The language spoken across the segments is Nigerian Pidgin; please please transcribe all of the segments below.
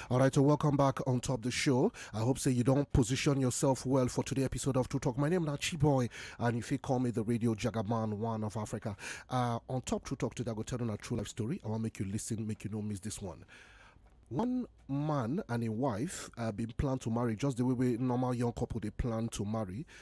All right, so welcome back on top of the show. I hope say you don't position yourself well for today's episode of True Talk. My name is Nachi Boy, and if you call me the radio jagaman one of Africa, uh, on top True Talk today, I go tell you a true life story. I want to make you listen, make you know miss this one. One man and a wife uh, been planned to marry just the way we normal young couple they plan to marry.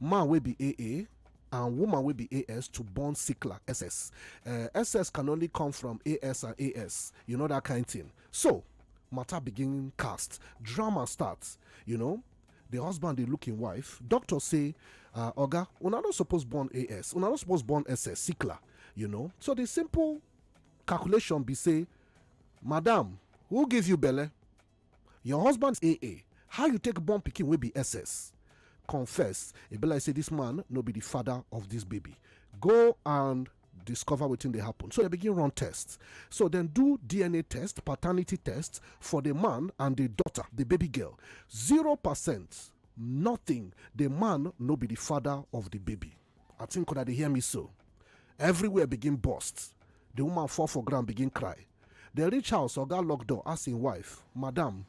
man wey be AA and woman wey be AS to born Sikla SS. Uh, SS can only come from AS and AS, you know that kind thing. So, matter begin cast, drama starts, you know. The husband dey look im wife. Doctor say, uh, Oga, una no suppose born AS, una no suppose born SS, Sikla, you know. So the simple calculation be say, Madam, who give you belle? Your husband's AA, how you take born pikin wey be SS? Confess, e be like say this man no be the father of this baby. Go and discover wetin dey happen. So dem begin run tests. So dem do DNA test, paternity test for the man and the daughter, the baby girl. Zero percent, nothing. The man no be the father of the baby. I think una dey hear me so. Everywhere begin burst. The woman fall for ground begin cry. Dem reach house, oga lock door, ask im wife, Madam,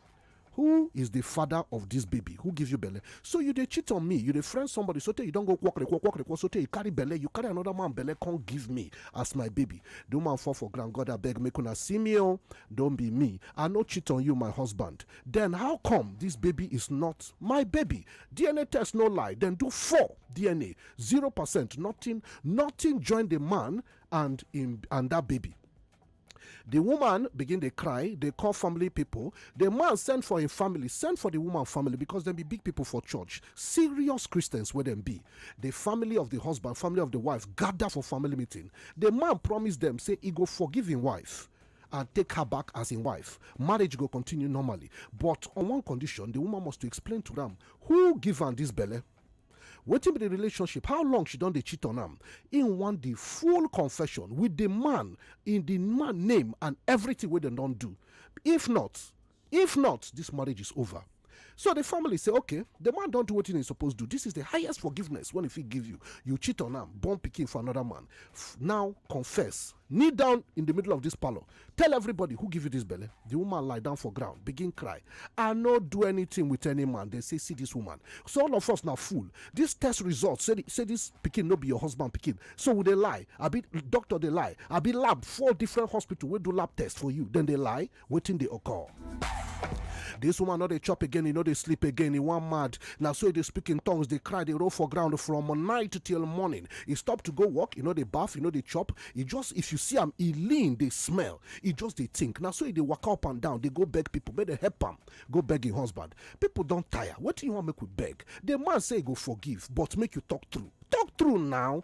who is the father of this baby? Who give you belle? So you dey cheat on me, you dey friend somebody sotey you don go kwokrekwo kwokrekwo sotey you carry belle, you carry another man belle come give me as my baby. The woman fall for ground, God abeg make una see me o, don be me, I no cheat on you my husband. Then how come this baby is not my baby? dna test no lie dem do four dna zero percent nothing nothing join the man and him and that baby the woman begin dey cry dey call family people the man send for him family send for the woman family because dem be big people for church serious christians wey dem be the family of the husband family of the wife gather for family meeting the man promise dem say he go forgive him wife and take her back as im wife, marriage go continue normally but on one condition, di woman must to explain to am who give am dis belle, wetin be di relationship, how long she don dey cheat on am, im want di full confession wit di man in di man name and evritin wey dem don do, if not. If not, dis marriage is over. So di family say, okay, di man don do wetin e suppose do. Dis is di highest forgiveness wey e fit give you. You cheat on am, born pikin for anoda man. Now confess. Kneel down in di middle of dis parlour. Tell everybody who give you dis belle. Di woman lie down for ground, begin cry. I no do anything with any man. Dem say, see dis woman. So all of us na fool. Dis test result say say dis pikin no be your husband pikin. So we dey lie? Abi doctor dey lie? Abi lab four different hospital wey do lab test for you, dem dey lie? wetin dey occur. This woman no dey chop again, e no dey sleep again, e wan mad. Na so e dey speak in tongues, dey cry, dey roll for ground from night till morning. E stop to go work, e no dey baff, e no dey chop. E just if you see am, e lean, dey smell. E just dey think. Na so e dey waka up and down, dey go beg people, make dem help am. Go beg im husband. People don tire. Wetin you wan make we beg? The man say e go forgive, but make you talk true. Talk true now.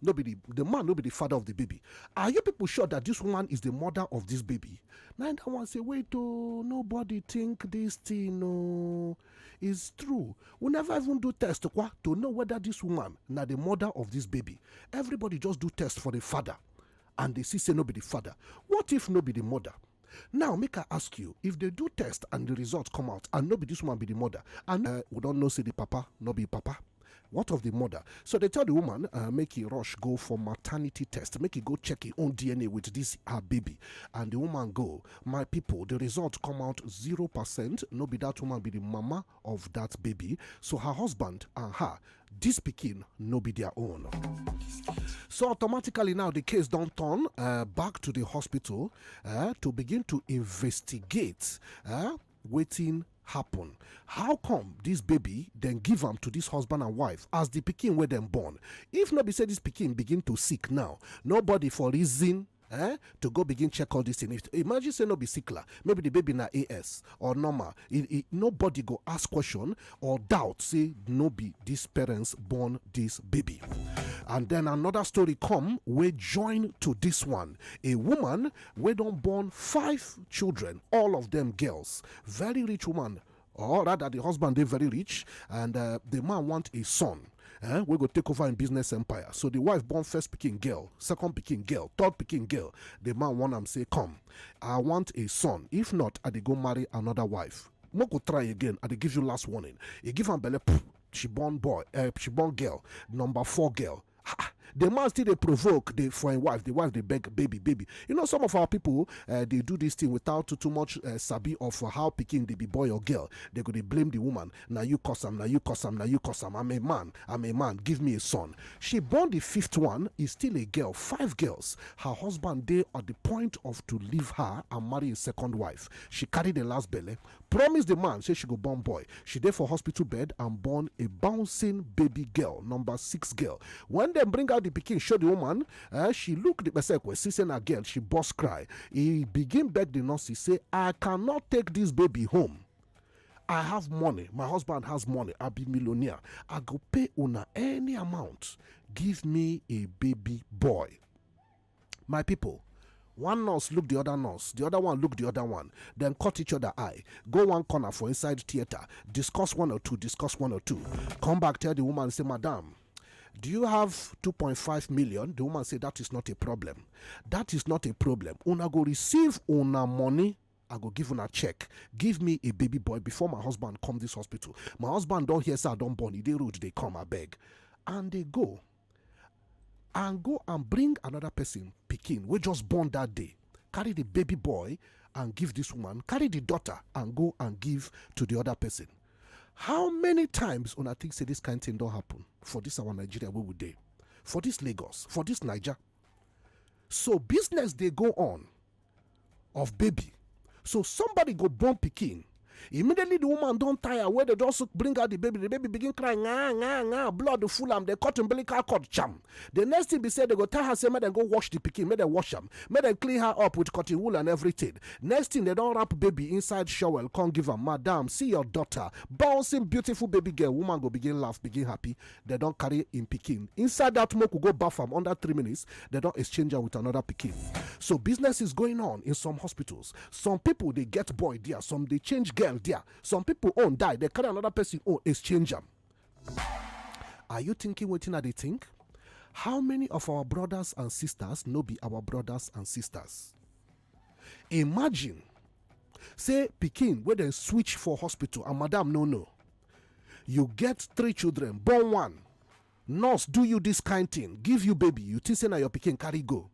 no be the the man no be the father of the baby are you people sure that this woman is the mother of this baby na that one say wait oh nobody think this thing oh is true we never even do test kwa to know whether this woman na the mother of this baby everybody just do test for the father and dey see say no be the father what if no be the mother now make i ask you if they do test and the result come out and no be this woman be the mother and uh, we don know say the papa no be papa what of the mother so they tell the woman uh, make he rush go for maternity test make he go check his own dna with this her baby and the woman go my people the result come out zero percent no be that woman be the mama of dat baby so her husband and her dis pikin no be dia own so automatically now di case don turn uh, back to di hospital uh, to begin to investigate uh, wetin happen how come this baby then give am to this husband and wife as the pikin where dem born if not be say this pikin begin to sick now nobody for reason eh to go begin check all this thing if imagine say no be sickler maybe the baby na as or normal it, it, nobody go ask question or doubt say no be these parents born this baby and then another story come we join to this one a woman we don born five children all of them girls very rich woman or rather the husband dey very rich and uh, the man want a son eh, wey go take over im business empire so the wife born first pikin girl second pikin girl third pikin girl the man warn am say come i want a son if not i dey go marry another wife no go try again i dey give you last warning e give am belle poof she born boy uh, she born girl number four girl the man still dey provoke the for im wife the wife dey beg baby baby you know some of our people uh, dey do this thing without too, too much uh, sabi of how pikin dey be boy or girl they go dey blame the woman na you cause am na you cause am na you cause am i'm a man i'm a man give me a son she born the fifth one is still a girl five girls her husband dey at the point of to leave her and marry a second wife she carry the last belle promise di man say she go born boy she dey for hospital bed and born a bouncing baby girl number six girl wen dem bring out di pikin show di woman eh, she look di pesekwe see say na girl she burst cry e begin beg di nurses say i cannot take dis baby home I have money. My husband has money. I'll be millionaire. I go pay una any amount. Give me a baby boy. My people, one nurse look the other nurse the other one look the other one then cut each other eye go one corner for inside theater discuss one or two discuss one or two come back tell the woman say madam do you have 2.5 million the woman say that is not a problem that is not a problem una go receive una money I go give una check. Give me a baby boy before my husband come this hospital. My husband don't hear say I don't born. He they rude, they come, I beg. And they go. and go and bring another person pikin wey just born that day carry the baby boy and give this woman carry the daughter and go and give to the other person how many times una think say this kind thing don happen for this our nigeria wey we dey for this lagos for this naija so business dey go on of baby so somebody go born pikin immediately the woman don tire wey dey just bring out the baby the baby begin cry nga nga nga blood full am dey cut umbilical cord jam the next thing be say they go tell her say make dem go wash the pikin make dem wash am make dem clean her up with cotton wool and everything next thing they don wrap baby inside shower come give am madam see your daughter bouncing beautiful baby girl woman go begin laugh begin happy dem don carry im pikin inside that smoke we go baff am under three minutes dem don exchange am with another pikin so business is going on in some hospitals some people dey get boy there some dey change girl there some people own die dey carry another person own exchange am are you thinking wetin i dey think how many of our brothers and sisters no be our brothers and sisters imagine say pikin wey dem switch for hospital and madam no know you get three children born one nurse do you this kind thing give you baby you think say na your pikin carry go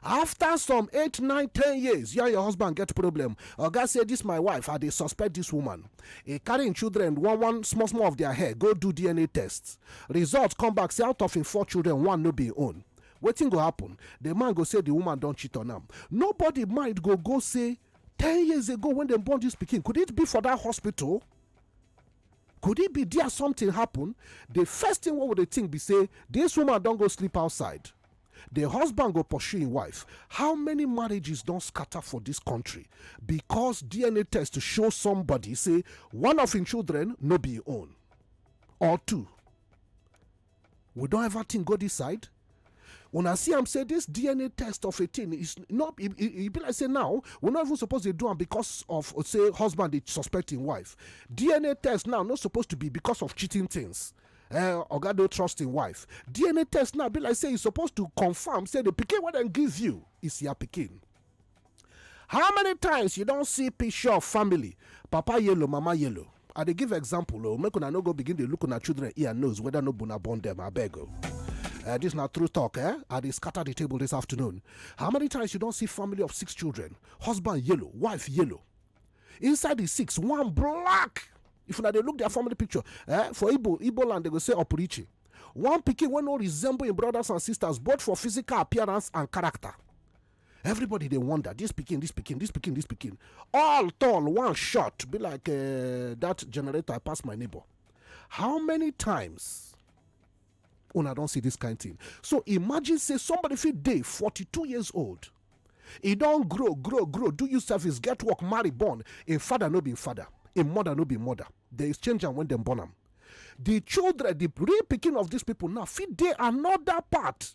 after some eight nine ten years you and your husband get problem oga say this my wife i dey suspect this woman e carry im children one one small small of their hair go do dna test result come back say out of im four children one no be im own wetin go happen the man go say the woman don cheat on am nobody mind go go say ten years ago when dem born this pikin could it be for that hospital could it be there something happen the first thing what would they think be say this woman don't go sleep outside the husband go pursue his wife how many marriages don't scatter for this country because dna test to show somebody say one of his children no be own or two we don ever think go this side una see am say this dna test of a thing is not e, e, e be like say now we no even suppose dey do am because of uh, say husband dey suspect im wife dna test now no suppose to be because of cheating things uh, oga no trust im wife dna test now be like say e suppose to confirm say the pikin wey dem give you is your pikin how many times you don see picture of family papa yellow mama yellow i dey give example o oh, make una no go begin dey look una children ear nose whether no bona born dem abeg o. Oh. Uh, this not true talk, eh? I they scatter the table this afternoon. How many times you don't see family of six children, husband yellow, wife yellow, inside the six, one black. If now they look their family picture, eh? For Igbo, Igbo land they go say Opurichi. One picking when no resemble in brothers and sisters, both for physical appearance and character. everybody dey wonder this pikin this pikin this pikin this pikin all tall one shot be like uh, that generator pass my neighbor how many times una don see this kind thing so imagine say somebody fit dey 42 years old e don grow grow grow do you service get work marry born im father no be im father im mother no be mother dem exchange am when dem born am the children the real pikin of these people now fit dey another part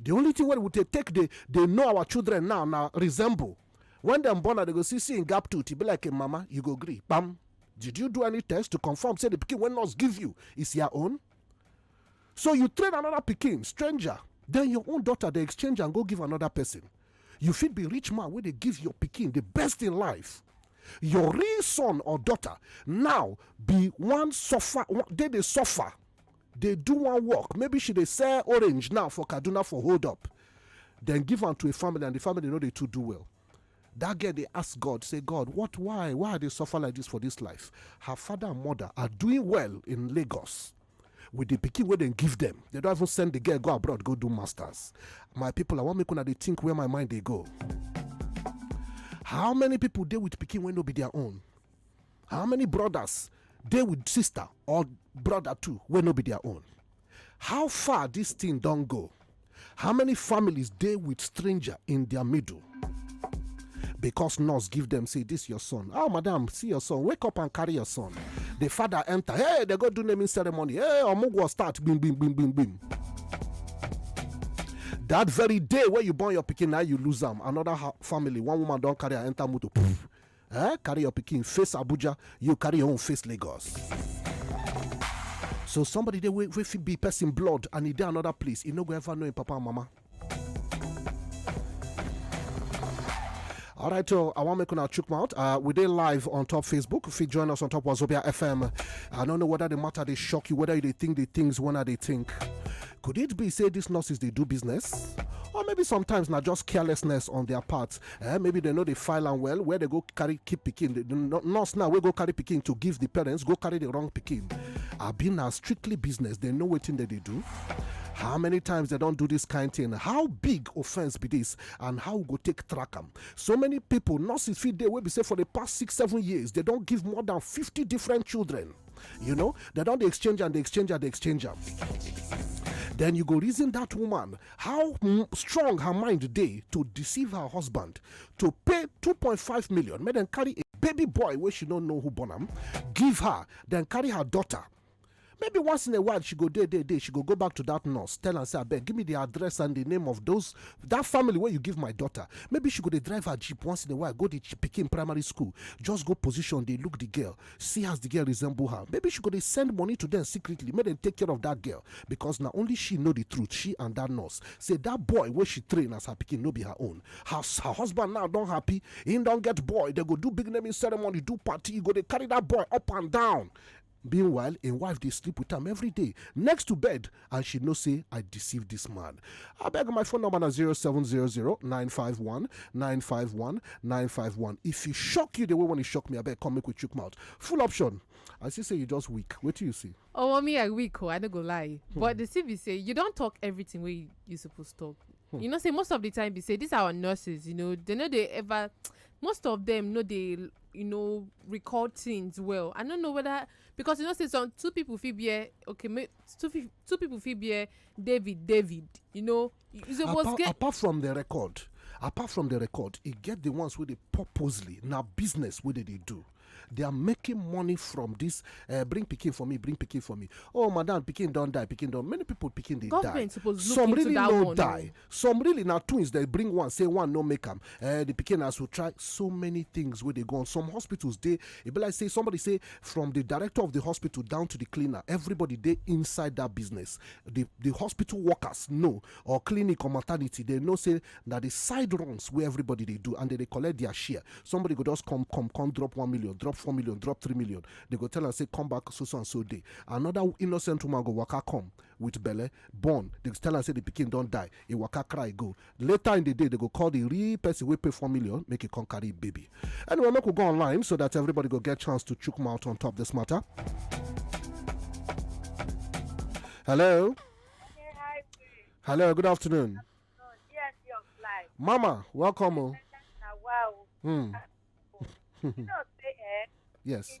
the only thing wey we dey take dey dey know our children now na resemble when dem born am dem go see see im gap tooth e be like im mama you go gree kpam did you do any test to confirm say the pikin wey nurse give you is your own so you train another pikin stranger then your own daughter dey exchange am go give another person you fit be rich man wey dey give your pikin the best in life your real son or daughter now be one suffer dey dey suffer dey do one work maybe she dey sell orange now for kaduna for hold up then give am to a family and the family no dey too do well that girl dey ask god say god what why why i dey suffer like this for this life her father and mother are doing well in lagos with the pikin wey dem give them. They don't even send the girl go abroad go do masters my people i wan make una dey think where my mind dey go how many people dey with pikin wey no be their own how many brothers dey with sister or brother too wey no be their own how far this thing don go how many families dey with stranger in their middle because nurse give them say this your son oh madam see your son wake up and carry your son the father enter hey they go do naming ceremony hey omugwo start bim bim bim bim bim that very day where you born your picking, now you lose them. another family one woman don't carry her enter motor poof Eh, carry your pikin face Abuja, you carry your own face Lagos. So somebody dey wey wey fit be person blood and e dey another place, e no go ever know im papa and mama. All right, so I want to make una chook mouth. Uh, we did live on top Facebook. If you join us on top of Zobia FM, I don't know whether the matter they shock you, whether they think the things when are they think. Could it be say these nurses they do business, or maybe sometimes not just carelessness on their part? eh, maybe they know they file and well where they go carry keep picking. the nurse now we go carry picking to give the parents go carry the wrong picking. I've been a strictly business they know what thing that they do how many times they don't do this kind of thing how big offense be this and how go take track them so many people nurses feed they will be say for the past six seven years they don't give more than 50 different children you know they don't exchange and they exchange and they exchange them then you go reason that woman how strong her mind dey to deceive her husband to pay 2.5 million make dem carry a baby boy wey she no know who born am give her then carry her daughter maybe once in a while she go day day day she go go back to that nurse tell am say abeg give me the address and the name of those that family where you give my daughter maybe she go dey drive her jeep once in a while go the pikin primary school just go position dey look the girl see as the girl resemble her maybe she go dey send money to them secretly make dem take care of that girl because na only she know the truth she and that nurse say that boy wey she train as her pikin no be her own her her husband now don happy he don get boy they go do big naming ceremony do party you go dey carry that boy up and down meanwhile im wife dey sleep with am every day next to bed and she know say i deceive this man I beg my phone number na 0700-951-951-951 if e shock you the way when e shock me I beg come make we chook mouth full option i see say you just weak do you see oh me i weak oh, i no go lie hmm. but the thing be say you don't talk everything wey you suppose talk hmm. you know say most of the time be say these are our nurses you know they no dey ever most of them no dey you know record things well i no know whether because you know say some two people fit be eh, okay two people two people fit bear david david you know you suppose apart, get apart from the record apart from the record e get the ones wey dey purposely na business wey dey dey do they are making money from this uh, bring pikin for me bring pikin for me oh madam pikin don die pikin don many people pikin dey die some really no die some really na twins dem bring one say one no make am eh, the pikin has to try so many things wey dey go on some hospitals dey e be like say somebody say from the director of the hospital down to the cleaner everybody dey inside that business the the hospital workers know or clinic or maternity they know say na the side runs wey everybody dey do and they dey collect their share somebody go just come come come drop one million drop four million drop three million they go tell am say come back so so and so day another innocent woman go waka come with belle born dem tell am say the pikin don die e waka cry go later in the day they go call the real person wey pay four million make e come carry im baby anyway make we go online so that everybody go get chance to chook mouth on top this matter hello hello good afternoon mama welcome o hmm. yes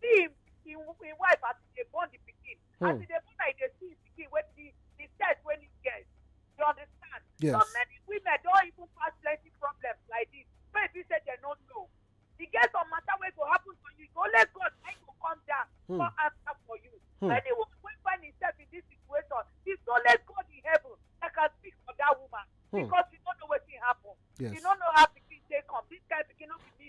see him him him wife as he dey born the pikin as Hmm. he dey born am he dey see him pikin wey the the sex wey he get you understand so Yes. many women don even pass plenty problems like this wey e be say dem no know e get some matter wey go happen to you na only God na him go come down Hmm. come answer for you Hmm. anyone wey find himself in this situation it's only God in heaven that can speak for that woman Hmm. because you no know wetin happen Yes. you no know how pikin take come this kind pikin no be me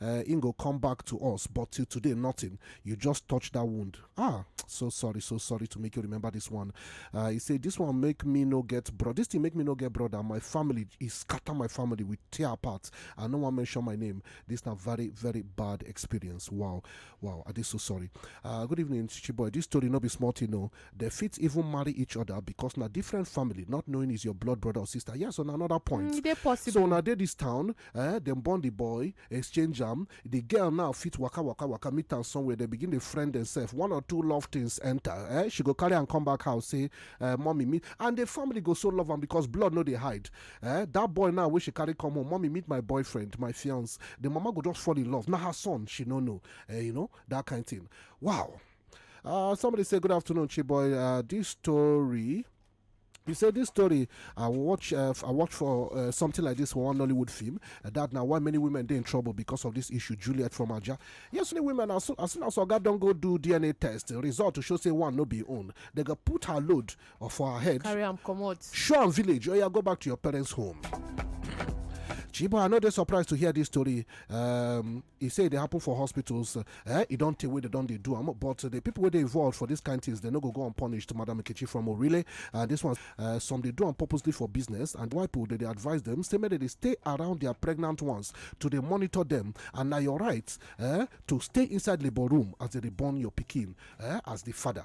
eh, im go come back to us but till today nothing you just touch that wound ah so sorry so sorry to make you remember this one uh, he say this one make me no get bro this thing make me no get brother my family e scatter my family we tear apart i no wan mention my name this na very very bad experience wow wow i dey so sorry uh, good evening chichi boy this story no be small thing o they fit even marry each other because na different family not knowing is your blood brother or sister yes on another point Mm, e dey possible. so una dey this town eh dem born the boy exchange am the girl now fit waka waka waka meet am somewhere they begin dey friend themselves one or two love things enter eh she go carry am come back house say eh mommy meet and the family go so love am because blood no dey hide eh that boy now wey she carry come home mommy meet my boyfriend my fiance the mama go just fall in love na her son she no know eh you know that kind thing wow uh, somebody say good afternoon chiboy uh, this story You say this story I watch uh, I watch for uh, something like this for one Nollywood film. Uh, that now why many women they in trouble because of this issue. Juliet from Aja. Yes, many women as soon as, soon as Oga don't go do DNA test, the result to show say one no be own. They go put her load for her head. Carry am comot. Show am village. Oh yeah, go back to your parents' home. Chibo, I know they're surprised to hear this story. Um, e say e dey happen for hospitals eh e don tey wey dem don dey do am but the people wey dey involved for dis kind things dem no go go unpunished madam nkechi from orile and dis one eh, some dey do am purposely for business and why people dey dey advise dem say make dem dey stay around their pregnant ones to dey monitor dem and na your right eh, to stay inside labour room as dem dey born your pikin eh, as the father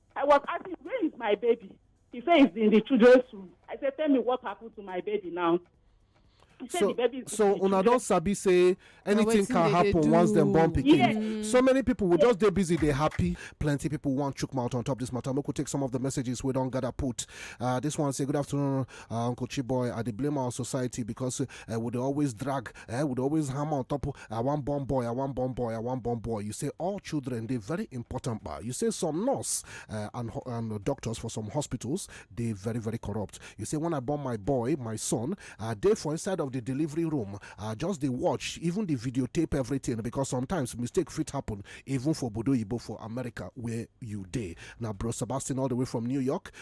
I was asking, where is my baby? He said, he's in the children's room. I said, tell me what happened to my baby now. He said, so, the baby is so una don sabi say anything can happen once dem born pikin yes. Mm. so many people will yes. just dey busy dey happy plenty people wan chook mouth on top this matter make we take some of the messages wey don gather put uh, this one say good afternoon uh, uncle chiboy i dey blame our society because uh, we dey always drag eh, we dey always hammer on top i wan born boy i wan born boy i wan born boy you say all children dey very important but you say some nurse uh, and, ho- and doctors for some hospitals dey very very corrupt you say when i born my boy my son i dey for inside of the delivery room i just dey watch even the videotape everything because sometimes mistake fit happen even for bodo yibo for america where you dey na bro sebastian all the way from new york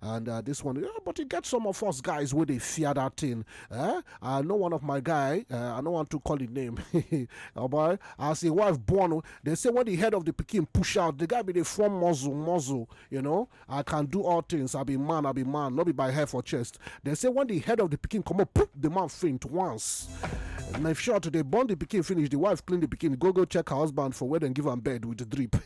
and uh, this one, yeah, but you get some of us guys where they fear that thing. Eh? I know one of my guy, uh, I don't want to call his name, oh boy, as a wife born, they say when the head of the Peking push out, the guy be the form muzzle, muzzle, you know, I can do all things, I be man, I be man, not be by hair for chest. They say when the head of the Peking come up, poof, the man faint once. Knife shot, they burn the pikin finish, the wife clean the pikin, go go check her husband for where and give him bed with the drip.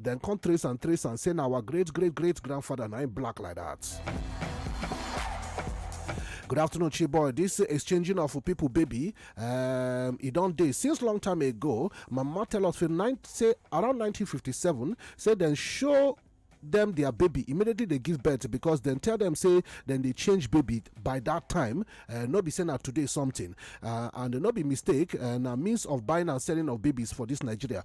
dem come trace and trace and say na our great great great grandfather na him black like that. Good afternoon, Chiboy. This exchanging of people, baby, um, it don't day since long time ago. Mama tell us from nine, say around 1957, say then show them their baby immediately they give birth because then tell them say then they change baby by that time uh, not be saying that today something uh, and not be mistake and uh, means of buying and selling of babies for this nigeria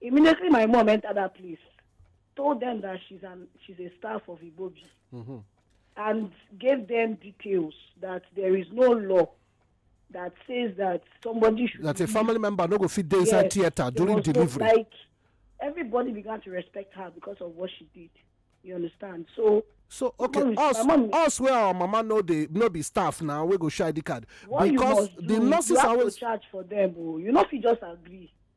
Immediately, my mom entered that place, told them that she's an she's a staff of Ibobi, mm-hmm. and gave them details that there is no law that says that somebody should that a family member no go fit dey inside yes, theater during delivery. Like everybody began to respect her because of what she did. You understand? So so okay mom, us mom, us where our mama no dey no be staff now we go share the card because the nurses you have always to charge for them o oh. you no fit just agree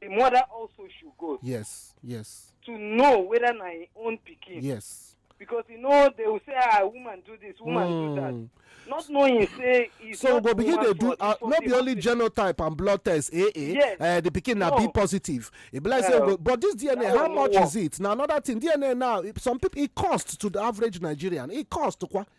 the mother also should go yes yes to know whether na im own pikin yes because you know they will say ah woman do this woman mm. do that mm. not knowing say e so go begin dey do uh, no be only genotype and blood test eh eh yes. uh, the pikin na no. b positive e be like yeah. say go, but this dna how much is it na another thing dna now some people e cost to the average nigerian e cost kwa